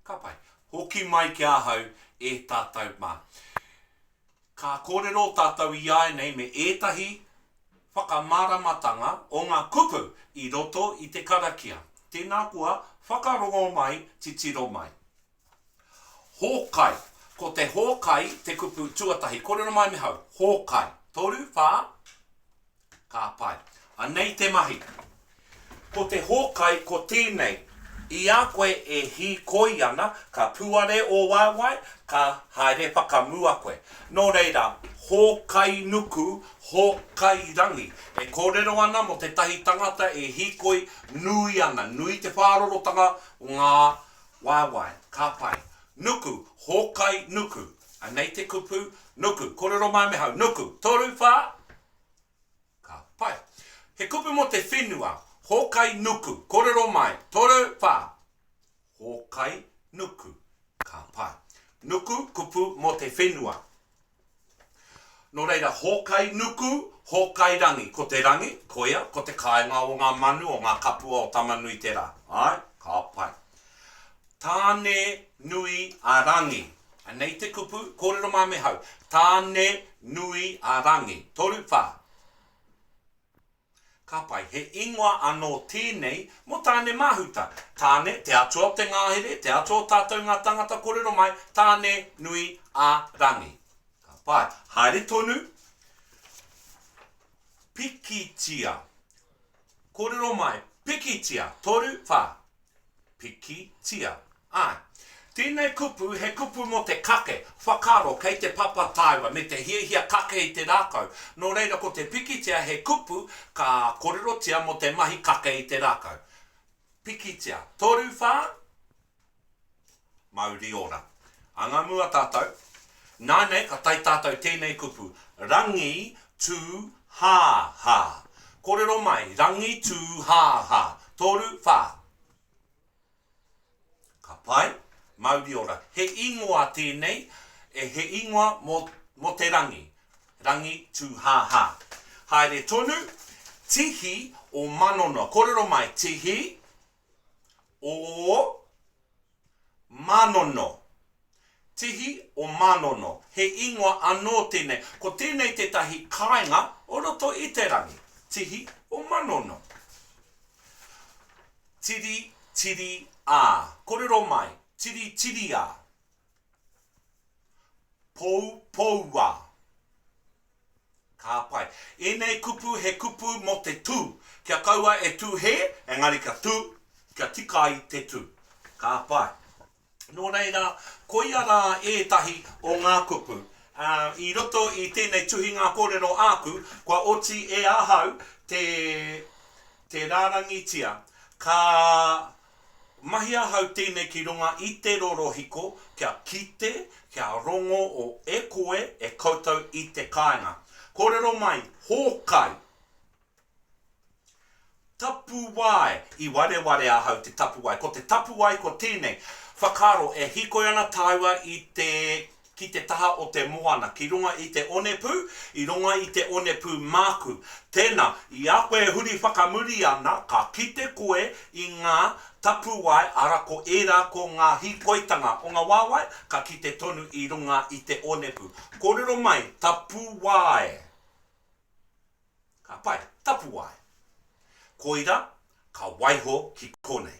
Ka pai. Hoki mai ki ahau e tātou mā. Ka kōrero tātou iāinei me ētahi whakamāramatanga o ngā kupu i roto i te karakia. Tēnā koa, whakarongo mai, titiro mai. Hōkai. Ko te hōkai te kupu tuatahi. Kōrero mai me hau. Hōkai. Toru, whā. Ka pai. Anei te mahi. Ko te hōkai ko tēnei, i a koe e hīkoi ana, ka puare ō waewae, ka haere whakamua koe. Nō reira, hōkai nuku, hōkai rangi. E kōrero ana mō tētahi tangata e hīkoi nui ana, nui te whārorotanga o ngā waewae. Ka pai. Nuku, hōkai nuku. Anei te kupu, nuku. Kōrero mai me hau, nuku. Toru, whā, Ka pai. He kupu mō te whenua, hōkai nuku, kōrero mai, toru, whā. Hōkai nuku. Ka pai. Nuku, kupu mō te whenua. Nō reira, hōkai nuku, hōkai rangi. Ko te rangi, koia, ko te kāinga o ngā manu, o ngā kapua o Tamanui-te-rā. Āe, ka pai. Tāne nui a Rangi. Anei te kupu, kōrero mā me hau. Tāne nui a Rangi. Toru whā. Ka pai, he ingoa anō tēnei mō Tāne-māhuta. Tāne, te atua o te ngāhere, te atua o tātou ngā tāngata kōrero mai, Tāne nui a Rangi. Ka pai. Haere tonu. Pikitia. Kōrero mai, pikitia. Toru whā. pikitia. Āe. Tēnei kupu he kupu mō te kake, whakaaro, kei te papa taewa me te hiahia kake i te rākau, nō reira ko te pikitia he kupu ka kōrerotia mō te mahi kake i te rākau. Pikitia. Toru whā? Mauri ora. Anga mua tatou. Na nei ka tai tatou tenei kupu, Rangi tu ha ha. Korero mai, Rangi tu ha ha. Toru wha. Ka pai. Mauri ora. He ingoa tenei, e he ingoa mo mo te rangi. Rangi tu ha ha. Haere tonu, Tihi o Manono. Korero mai, Tihi o Mānono. Tihi o Mānono, he ingoa anō tēnei. Ko tēnei tētahi kāinga o roto i te rangi. Tihi o Manono. Tiri, tiri, a. Korero mai, tiri, tiri, a. Pou, pou, a. Ka pai. Ēnei kupu he kupu mō te tū. Kia kaua e tū hē, engari kia tū, kia tika ai te tū. Ka pai. Nō reira, koia rā ētahi o ngā kupu. Ā, i roto i tēnei tuhinga kōrero āku, kua oti e ahau te, te rārangitia. Ka Mahi ahau tēnei ki runga i te rorohiko kia kite, kia rongo o e koe e koutou i te kāinga. Kōrero mai, Hōkai! Tapuwae! I wareware ahau te tapuwae. Ko te tapuwae ko tēnei, whakaaro e hīkoi ana tāua i te ki te taha o te moana, ki runga i te onepū, i runga i te onepū māku. Tēnā, i a koe e huri whakamuri ana, ka kite koe i ngā tapuwae, arā, ko ērā ko ngā hīkoitanga o ngā wāwae ka kite tonu i runga i te onepū. Kōrero mai, tapuwae. Ka pai, tapuwae. Koira, ka waiho ki konei.